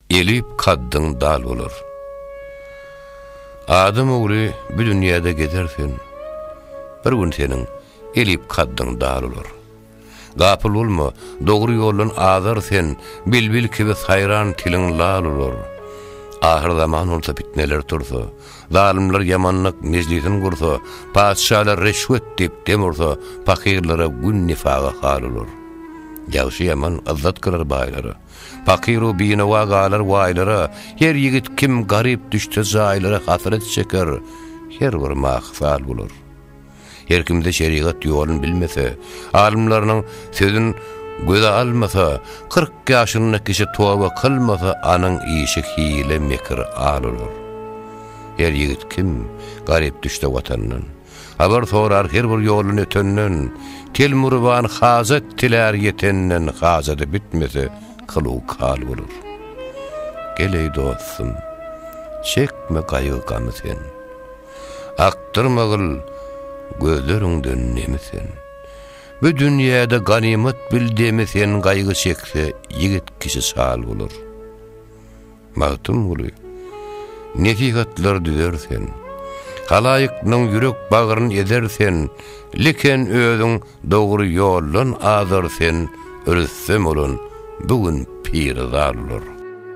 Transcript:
Elip kaddyň dal bolar. Adam ogly bu dünýäde gezer sen. Bir gün seniň elip kaddyň dal bolar. Gapyl bolma, dogry ýoldan azar sen, bilbil kibi saýran tiliň lal bolar. Ahyr zaman bolsa pitneler tursa, zalymlar ýamanlyk mejlisin gursa, patyşalar reşwet diýip dem ursa, pakyrlara gün nifaga hal bolar. Ýagşy ýaman yzzat gyrar baýlara. Pakyr-u binawa galar waýlara, Her ýigit kim garyp düşse jaýlara Hasrat çeker, her bir mahysal bolar. Her kimde şerigat ýolun bilmese, Alymlarynyň sözün göze almasa, Kyrk ýaşynda kişi toba kylmasa, Anyň işi hile, mekir, al olar. Her ýigit kim garyp düşse watandan. Habar sorar her bir ýoldan ötenden, Telmuryban hajat dilär ýetenden, Hajady bitmese, kyluw kal bolar. Gel, eý dostum, çekme gaýgy-gamy sen, Akdyrma gyl, gözleriňden nemi sen. Bu dünýäde ganymat bil demi sen, Gaýgy çekse, ýigit kişi şal bolar. Magtymguly, Nesihatlar düzer sen, Halaýyklaň ýürek-bagryn ezer sen, Leken özüň dogry ýoldan azar sen, Rüstem bolan bu gün piri-zar olar.